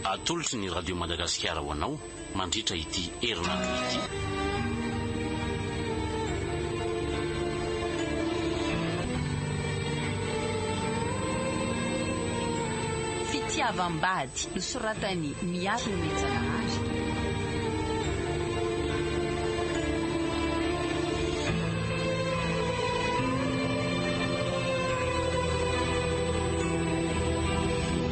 Atolotry ny Radio Madagasikara ho anao mandritra ity herinandro ity. fitiavam-bady nosoratan'i Miarina Mijanahary.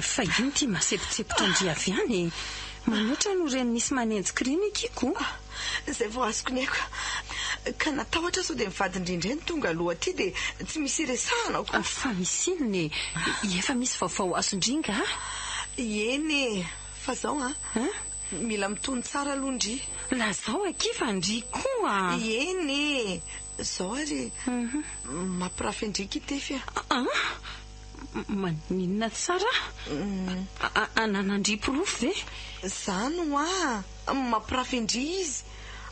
Fa io ity masepotsepotra ndry avy any e! Manoatra no reny misy manenjika reny ekeko o! Zay vao azoko ny aiko. Ka natahotra sao dia ny vadindry indray no tonga aloha aty dia tsy misy iresahana akory. Fa misy inona e? Efa misy vaovao azondry ingahy? Eny e! Fa zao an! Mila mitony tsara aloha ndry. Lazao akia fa ndry koa! Eny e! Zao ary mampirafy an-dry kitefy a! An! Maninona tsara? Ananandria porofo ve? Zany hoa mampirafy ndry izy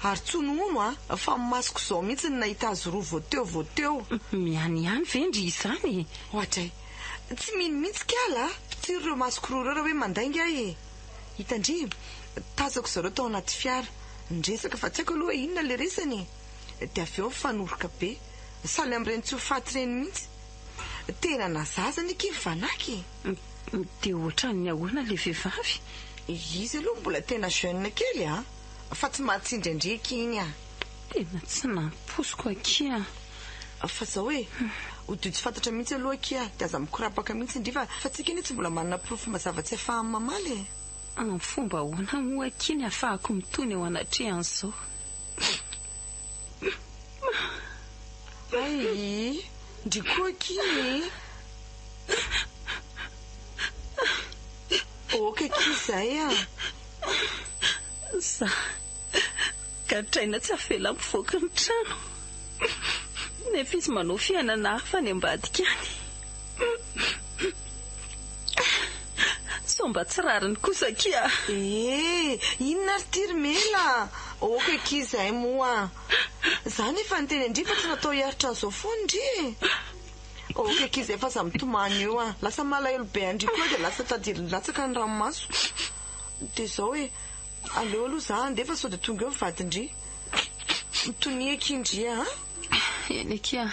ary tsy honono a! Fa masoko izao mihitsy no nahita azy roa vao teo vao teo. Miany ihany ve ndry izany e? Oadray! Tsy mino mihitsy kala a! Mpitiry ireo masoko roa ireo raha hoe mandainga ahy e! Hita ndry! Tazako zareo tao anaty fiara, niresaka fa tsy haiko aloha hoe inona ilay resany e! Dia avy eo nifanoroka be. Sahala amin'ireny tsy ho faty ireny mihitsy. Tena na zaza ny kivy fanaky e! Dia ohatran'ny ahoana ilay vehivavy? Izy aloha mbola tena jeune kely a! Fa tsy mahatsindraindriaka iny a! Tena tsy nampoiziko aky a! Fa zao e! Ho dio tsy fantatra mihitsy aloha aky a! Dia aza mikorapaka mihitsy ndry fa fa tsika anie tsy mbola manana porofo mazava tsy afahan'ny mamaly e! Amin'ny fomba ahoana moa aky ny afahako mitony eo anatrehan'izao? Ayy ndry koa aky e. Ok aky izay a. Za gadraina tsy avela mivoaka ny trano nefa izy manao fiainana hafa any ambadika any. Sao mba tsy rariny kosa akia a! Eeh! Inona ary ity ry Mela a! Aoka akia izay moa a! Za ny efa niteny an-dry fa tsy natao hiaritra an'izao foana ndry e! Aoka akia izay fa aza mitomany eo a! Lasa malahelo be an-dry koa aho dia lasa tadirin'ny latsaka ny ranomasoko. Dia izao e! Aleo aloha za handeha fa sao dia tonga eo ny vadin-dry. Mitonia akia ndry a! Eny akia a!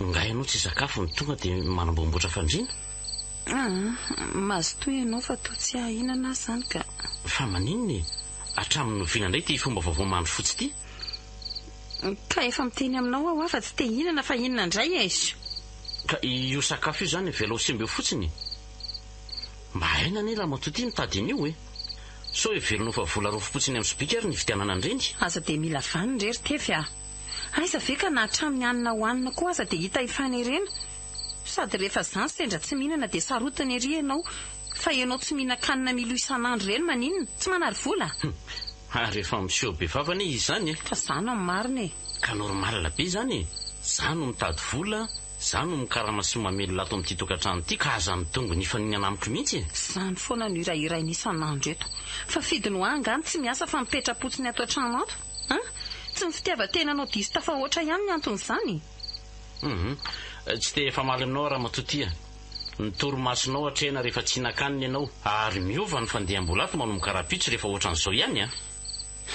Nga ianao tsy hisakafo no tonga dia manamboamboatra fandriana? Aa! Mazotoa ianao fa toa tsy hahahinana aza izany ka! Fa maninona e? Hatramin'ny noviana indray ity fomba vaovao mandry fotsy ity? Ka efa miteny aminao aho hoa fa tsy te hihinana fa inona indray aizu? Ka io sakafo io izany avelao simba eo fotsiny e! Mba haina anie Ramatoa ity mitady an'io e! Sao heverina ho fa vola rofopotsiny amin'ny sobika ary ny hividianana an'ireny? Aza dia mila vaniny re ry Tefy a! Aiza ve ka na hatramin'ny hanina hohanina koa aza dia hita hifanerena? Sady rehefa zany sendra tsy mihinana dia sarotiny ery ianao fa ianao tsy mihinan-kanina milo isan'andro ireny maninona? Tsy manary vola? Humm! Ary efa miseho be vava anie izy izany e! Ka za no amin'ny marina e! Ka normal be izany e! Za no mitady vola, za no mikarama sy mamelona ato amin'ity tokantrano ity ka aza midongy nifaninana amiko mihitsy e! Izany foana no hirahirainy isan'andro eto. Fa fidy no ahy angaha ny tsy miasa fa mipetra-potsiny ato an-trano ato? An! Tsy ny fitiavan-tenanao diso tafahoatra ihany ny anton'izany e! Humm! Tsy te hifamaly aminao Ramatoa Tia. Ny torimasonao hatrehina rehefa tsy hihinan-kanina ianao. Ary miova ny fandiham-bola ato manomboka rahampitso rehefa ohatran'izao ihany an!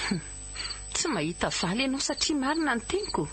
Humm! Tsy mahita valy ianao satria marina ny teniko.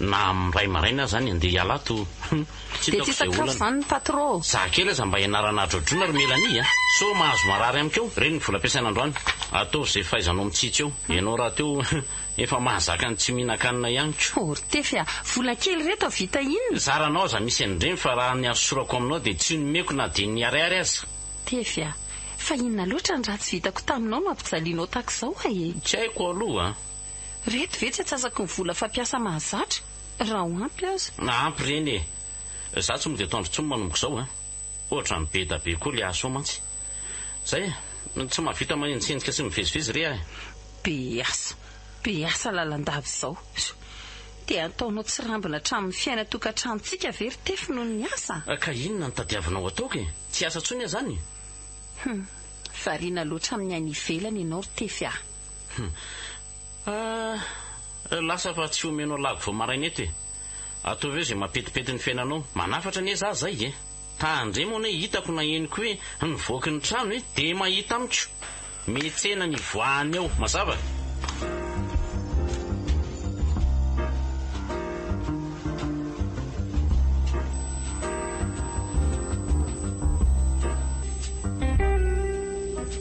Na amin'ny iray maraina aza any andeha hiala ato hum tsy Dia tsy hitako izay hisakafo olana. izany ny patro. Za kely aza mba ianarana adrodroina ry Mélanie a! Sao mahazo marary amiko eo? Reny ny vola ampiasaina androany. Ataovy izay fahaizanao mitsitsy eo. Ianao rahateo efa mahazaka ny tsy mihinan-kanina ihany ko. Oh ry Tefy a! Vola kely ireto havita inona? Zaranao aza misy an'ireny fa raha ny arosorako aminao dia tsy nomeko na dia ny ariary aza. Tefy a! Fa inona loatra ny ratsy vitako taminao no ampijalianao tahaka izao a e? Tsy haiko aloha a! Reto ve tsy atsasaky ny vola fampiasa mahazatra raha ho ampy aza. Na ampy ireny e! Za tsy mody ataondry tsony manomboka izao a! Ohatrany beda be koa le aso mantsy! Zay e! Tsy mahavita manenjikejika sy mivezivezy re ah e! Be asa, be asa lalandava izao. Dia hataonao tsirambina hatramin'ny fiaina tokantranontsika ve ry Tefy noho ny asa? Ka inona no tadiavinao ataoko e! Tsy asa tsony ah zany? Hum, variana loatra amin'ny aina ivelany ianao ry Tefy ah! Humm. Ahh. Lasa fa tsy omeno alago vao maraina eto e. Ataovy eo izay mampetipety ny fiainanao. Manafatra anie za zay e. Tandre moa anie hitako na henoko hoe nivoaky ny trano e. Dia mahita amiko. Mihetsena ny ivoahany ao. Mazava? Fa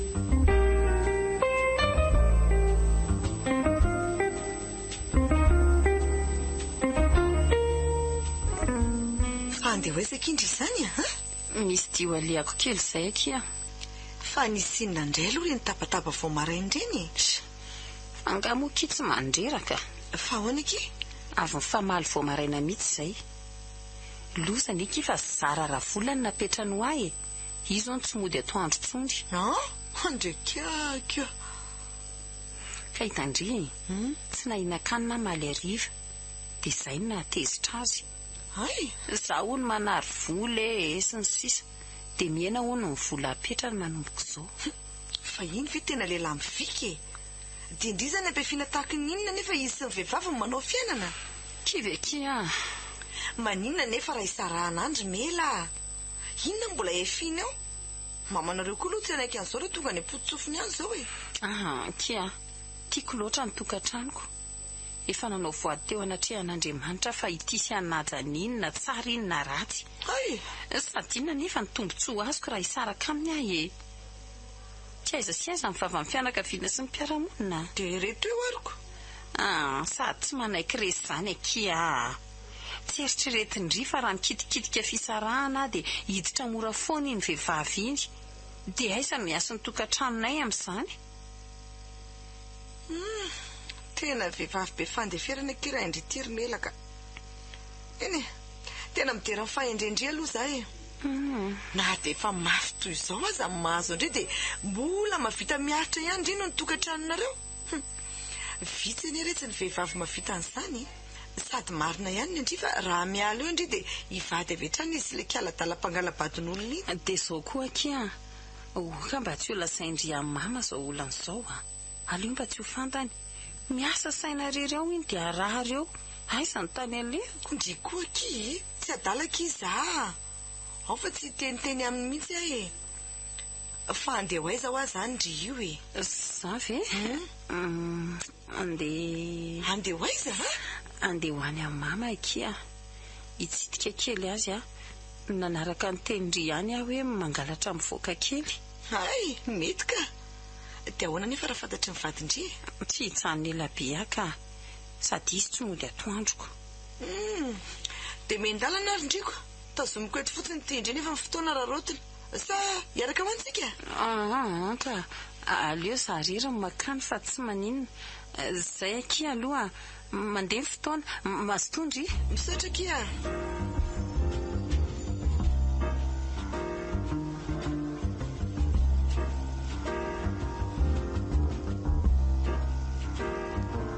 andeha ho aiza akia ndry izany a? Misy dia ho alehako kely izay akia. Fa nisy inona indray aloha ireny tabataba vao maraina ireny e? Sha! Angaha moa akia tsy mandreraka? Fa ahoana akia? Avy nifamaly vao maraina mihitsy izay. Loza anie akia fa zara ravolany napetrany ho ahy e! Io zao no tsy mody atoandro tsony. An! Andre kiakia. Ka i Tandry tsy nahinan-kanina aho maly hariva dia izay no nahatezitra azy. Hay! Izaho hono manary vola e e sy ny sisa dia mihena hono ny vola apetrany manomboka izao. Humm! Fa iny ve tena lehilahy mivika e! Dia ndry izany ampiafiana tahaka ny inona anefa izy sy ny vehivavy no manao fiainana? Kivekia a! Maninona anefa raha hisarahana an-dry Mela a! Inona no mbola efiana eo? Mamanareo koa aloha tsy hanaiky an'izao raha tonga any am-pototsofiny any izao e! Aha, kia! Tiako loatra ny tokantranoko. Efa nanao voady teo anatrehan'Andriamanitra fa ity sy hanaja ny iny na tsara iny na ratsy. Hay! Sady inona anefa ny tombontsoa azoko raha hisaraka aminy aho e! Tsy aiza sy aiza ny vavan'ny fianakaviana sy ny mpiara-monina. Dia ireto eo aroko. Aha, sady tsy manaiky resy izany akia a! Tsy eritreretin-dry fa raha mikitikitika fisarahana aho dia hiditra mora foana iny vehivavy iny. Dia aiza no hiasin'ny tokantranonay amin'izany? Humm! Tena vehivavy be fandeferana ity rain-dry Tiry Melaka. Eny e! Tena midera ny fahendren-dry aloha izaho e! Na dia efa mafy toy izao aza ny mahazo an-dry dia mbola mahavita miaritra ihany indrindra ny tokantranonareo. Humm! Vitsy anie retsy ny vehivavy mahavita an'izany e! Sady marina ihany ndry fa raha miala eo ndry dia hivady avy hatrany izy le kiala dala mpangalabadin'olona iny. Dia izao koa akia an! oh ka mba tsy ho lasain-dry an mama izao olana izao an! aleo mba tsy ho fantany! miasa saina irery ao iny dia arary eo! aiza ny tany alehako? Ndry koa akia e! tsy adala akia izaho an! ao fa tsy hiteniteny aminy mihitsy aho e! fa handeha ho aiza hoa izany ndry io e! Za ve? Humm. Andeha. Andeha ho aiza a? Andeha ho any amin'i Mama akia. Hitsidika kely azy aho. Nanaraka ny tenin-dry ihany aho hoe mangalatra mivoaka kely. Hay! Mety ka! Dia ahoana anefa raha fantatry ny vadin-dry e? Tsy hijanona ela be aho ka. Sady izy tsy mody atoandroko. Hum! Dia mihen-dalana ary ndry ko. Tazomiko eto fotsiny ity indray nefa ny fotoana raraotina. Sa hiaraka ho any tsika? Aa antra, aleo za rery no makany fa tsy maninona. Zay akia aloha, mandeha ny fotoana. Mazotoa ndry. Misaotra akia a.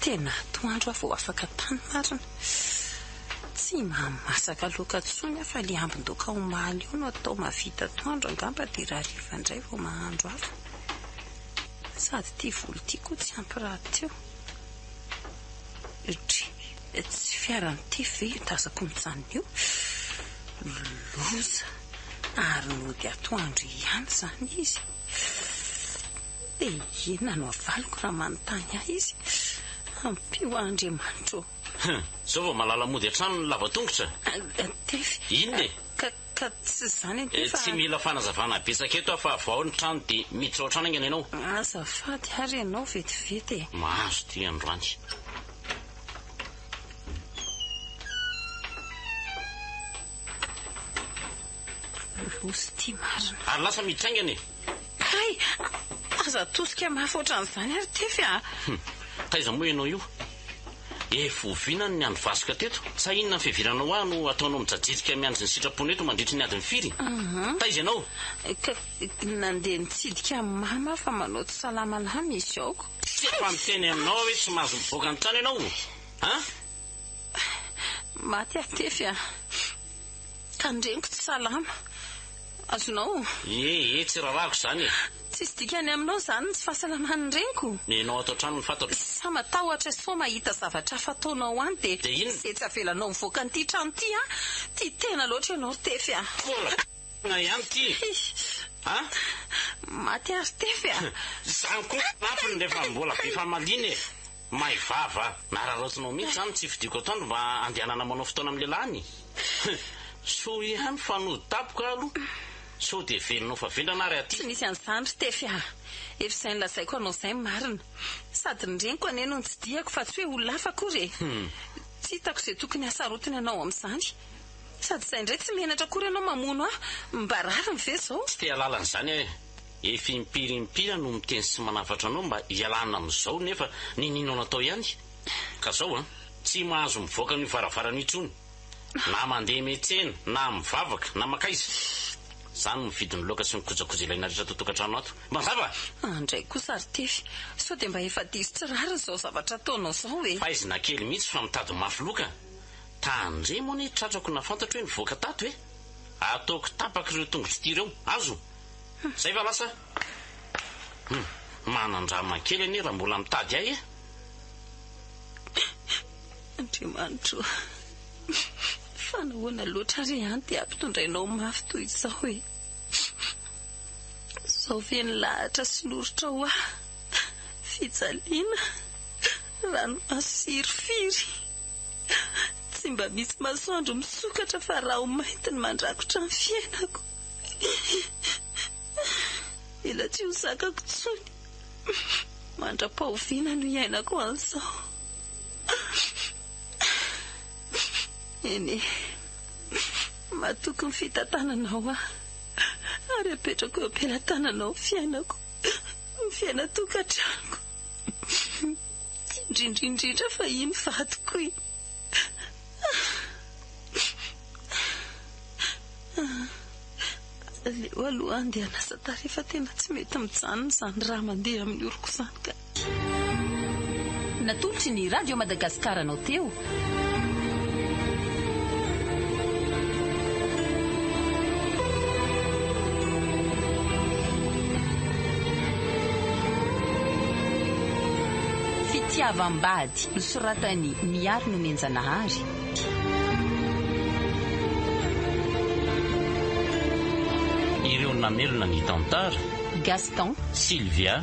Tena atoandro aho vao afaka tany marina. Tsy mahamasaka loka tsony aho fa le ambin-doka omaly io no atao mahavita atoandro angamba de rahariva ndray vao mahandro hafa. Sady ty volo ty koa tsy ampy rahateo. Dry, tsy fiaran'ny tefy ve io tazako mijanona io? Loza! Ary nody atoandro ihany zany izy. Fff e inona no avaliko raha manontany ahy izy? Ampio aho Andriamanitra ô! Hum, zao vao malala mody hatrany ny lava tongotra? Tefy, Inona e? ka, ka tsy izany akia fa. Tsy mila fanazavana betsaka eto aho fa vao ao ny trano dia miditra ao an-trano haingana ianao. Azafady ary ianao vetivety e! Mahazo ity androany. Bosy ity marina. Ary lasa mitraingana e! Kay! Aza atosika mafy ohatran'izany ary Tefy a! Hum! Taiza moa ianao io? Efa oviana ny niandry vasoka teto? Sa inona ny fiheviranao ahy no ataonao mijajirika miandry ny sitraponao eto mandritry ny adiny firy? Taiza ianao? Ka! Nandeha nitsidika an'i Mama aho fa manao tsy salama lahy misy aoka. Tsy efa niteny aminao aho hoe tsy mahazo mivoaka ny trano ianao? An! Maty aho Tefy a! Tandremiko tsy salama. Azonao. Ie ie tsy rarahako izany e. Tsisy dikany aminao izany ny tsy fahasalaman'ny reniko. Nenao ato an-trano ny fantatro. Sa matahotra sao mahita zavatra hafa ataonao any dia. Dia inona? Ze tsy avelanao mivoaka an'ity trano ity an! Tia tena loatra ianao ry Tefy an! Mbola tena ihany ity a! Maty aho ry Tefy a! Izany koa ny anatony rehefa mbola be famaliana e! May vava a! Nararaotinao mihitsy zany ny tsy fidiako atoandro mba andehanana manao fotoana amin'ny lehilahy an! He! Soa ihany fa nody tampoka aho aloha! Sao dia velona ho fa vendrana ary aty! Tsy nisy an'izany ry Tefy a! Efa izay nolazaiko anao izay ny marina! Sady ny reniko anie no nitsidihako fa tsy hoe olona hafa akory e! Tsy hitako izay tokony hasarotiny anao amin'izany! Sady izay indray tsy menatra akory ianao mamono ahy! Mba rariny ve izao? Tsy te-hahalala an'izany aho e! Efa impiry impiry aho no miteny sy manafatra anao mba hialana amin'izao nefa ninianao natao ihany? Ka zao an! Tsy mahazo mivoaka an'io varavarana io intsony! Na mandeha eny an-tsena, na mivavaka, na mankaiza! Za no mividy ny laoka sy ny kojakoja ilaina rehetra ato an-tokantrano ato. Mazava? An dray kosa ry Tefy, sao dia mba efa diso tsy rariny zao zavatra ataonao zao e! Faizina kely mihitsy fa mitady mafy loka! Tandremo anie tratrako na fantatro hoe nivoaka tato e! Ataoko tapaka ireo tongotro ity ireo. Azo? Zay va lasa? Hum, manan-drama kely anie raha mbola mitady ahy eh! Andriamanitro o! Fa nahoana loatra re an dia ampitondrainao mafy toy izao e! Zao ve ny lahatra sy noritrao ahy? Fijaliana, ranomaso sy hirifiry. Tsy mba misy masoandro misokatra fa raho mainty ny mandrakotra ny fiainako. Mila tsy ho zakako tsony. Mandra-pahoviana no hiainako an'izao? Eny e, matoky ny fitantananao aho ary apetrako eo am-pelatananao ny fiainako, ny fiainan-tokantranoko. Indrindra indrindra fa iny vadiko iny Aleo aloha andeha anasa tarehy fa tena tsy mety mijanona izany raha mandeha amin'ny oroko izany ka. Natolotry ny Radio Madagascar anao teo Fitiavam-bady nosoratan'i Miary Nomenjanahary. Ireo namelona ny tantara. Gaston. Sylvia.